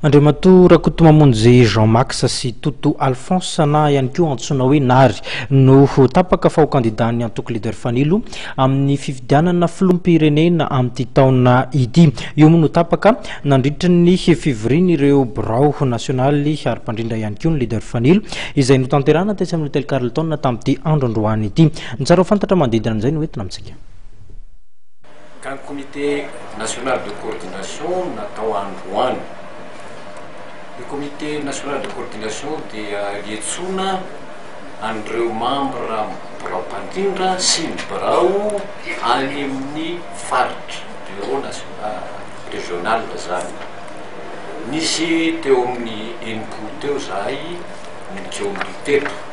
Andriamatoa Rakotomamonjy Jean Max sy Toto Alphonse na ihany koa antsoina hoe Nary no ho tapaka fa ho kandidan'ny antoko Leader Fanilo amin'ny fifidianana filoham-pirenena amin'ity taona ity. Io moa no tapaka nandritra ny fivorian'ireo birao nasionaly ary mpandrindra ihany koa ny Leader Fanilo izay notanterahana tetsy amin'ny Hôtel Carlton tamin'ity andro androany ity. Ny tsara ho fantatra manodidina an'izay no entina amintsika. Ka ny comité national de coordination natao androany. Ny comité national de coordination dia iantsoana an'ireo mambra birao mpandrindra sy ny birao any amin'ny faritra, bureau national, régional izany. Nisy teo amin'ny enimpolo teo izahay no nijoro teto.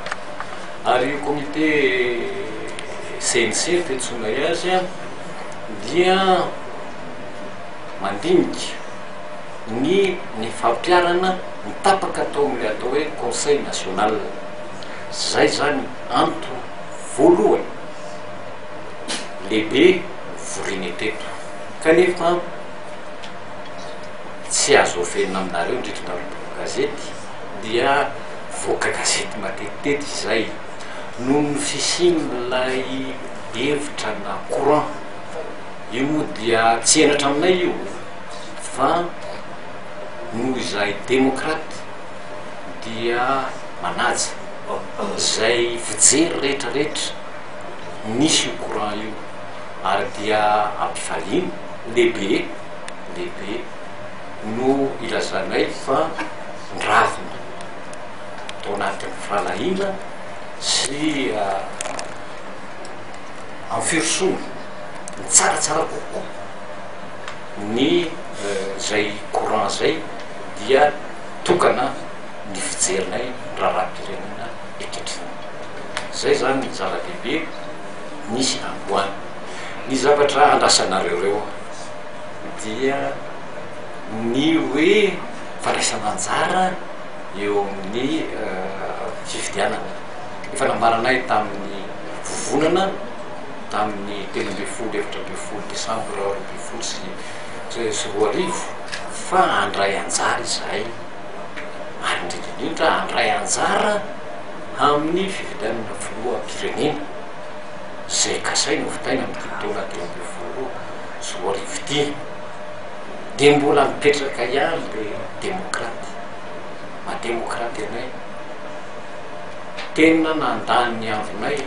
Ary io comité CNC fiantsoanay azy dia mandinika ny ny fampiharana ny tapaka atao amin'ilay atao hoe conseil national. Izay izany antony voalohany lehibe nivorianay teto kanefa tsy azo afenina aminareo indrindra nareo mpanao gazety. dia mivoaka gazety matetitety izay. Noho ny fisian'ilay hevitra na courant io moa dia tsy henatra aminay io fa noho izahay demokraty dia manaja izay fijery rehetrarehetra misy io courant io ary dia ampifaliana lehibe lehibe. no ilazanay fa ndravina tao anatin'ny fanahina sy amin'ny firosoana ny tsaratsara kokoa ny zay courant zay dia tokana ny fijerinay raharaham-pirenena ankehitriny zay zany ny zava-dehibe nisy androany ny zavatra andrasanareo reo dia ny hoe fandraisana anjara eo amin'ny fifidianana. Efa nambaranay tamin'ny vovonana tamin'ny telo ambin'ny folo efatra ambin'ny folo desambra roa ambin'ny folo sy sy roa arivo fa handray anjara izahay ary indrindra indrindra handray anjara amin'ny fifidianana filoham-pirenena izay kasaina hovitaina amin'ity taona telo ambin'ny folo tsy ho rivotia dia mbola mipetraka ihany le demokraty maha demokraty anay tena nandany ny andronay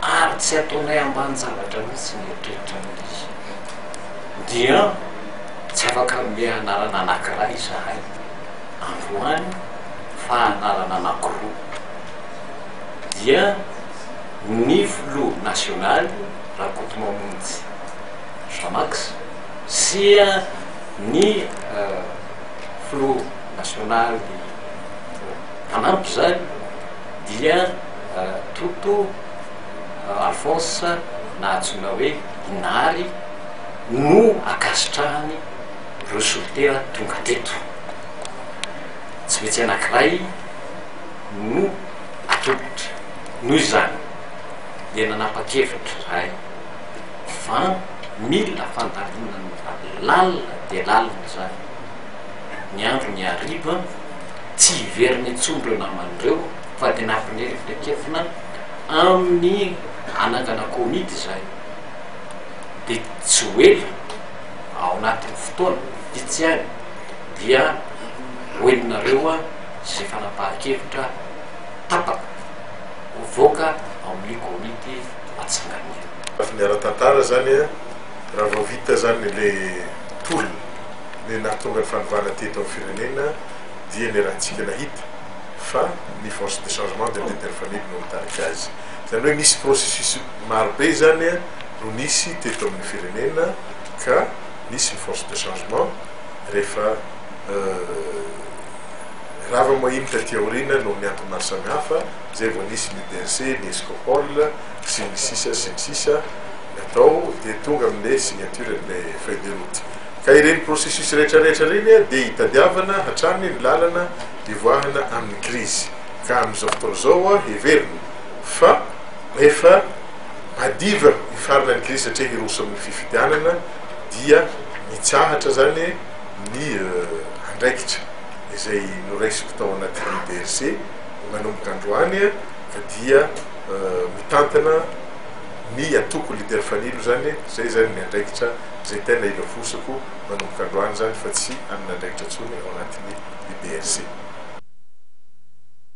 ary tsy ataonay ambany zavatra mihitsy ny eritreritra mihitsy dia tsy afaka mbe anarana anankiray izahay androany fa anarana anankiroa dia ny filoha nasionaly rakotomamonjy Jamax sy ny filoha nasionaly mpanampy izany dia Toto Alphonse na antsoina hoe Inary no ankasitrahany ireo solitera tonga teto. Tsy maintsy anankiray no atolotra. Noho izany dia nanapa-kevitra izahay. Van, mila fandalinana lalina dia lalina izany. Ny andro ny hariva, tsy hiverina intsony ireo namany ireo fa dia nampineritreketina amin'ny hanangana komity izay. Dia tsy ho ela, ao anatin'ny fotoana vitsy ihany dia ho henonareo izay fanapahan-kevitra tapaka, hovoaka ao amin'ny komity. Antsiranana. Fa ny ara-tantara zany a, raha vao vita zany ilay tolona, ilay nahatonga ny fanovana teto amin'ny firenena dia ny ratsika nahita fa ny force de changement de leader family no nitarika azy. Zany hoe nisy processus maro be zany no nisy teto amin'ny firenena ka nisy ny force de changement rehefa rava moa iny taty aoriana noho ny antony maro samihafa, izay vao nisy ny DERCE, ny Escopol sy ny sisa sy ny sisa natao dia tonga amin'ilay signature an'ilay feuille de route. Ka ireny processus rehetra rehetra ireny dia itadiavana hatrany ny lalana hivoahana amin'ny krizy. Ka amin'izao fotoana izao heverina fa efa madiva hifarana ny krizy satria hiroso amin'ny fifidianana dia mitsahatra izany ny andraikitra izay noraisiko tao anatin'ny DERCE, Manomboka androany dia mitantana ny antoko Leader Fanilo izany, izay izany ny andraikitra izay tena ilafosako manomboka androany izany fa tsy hanana andraikitra intsony ao anatin'ny UDRC.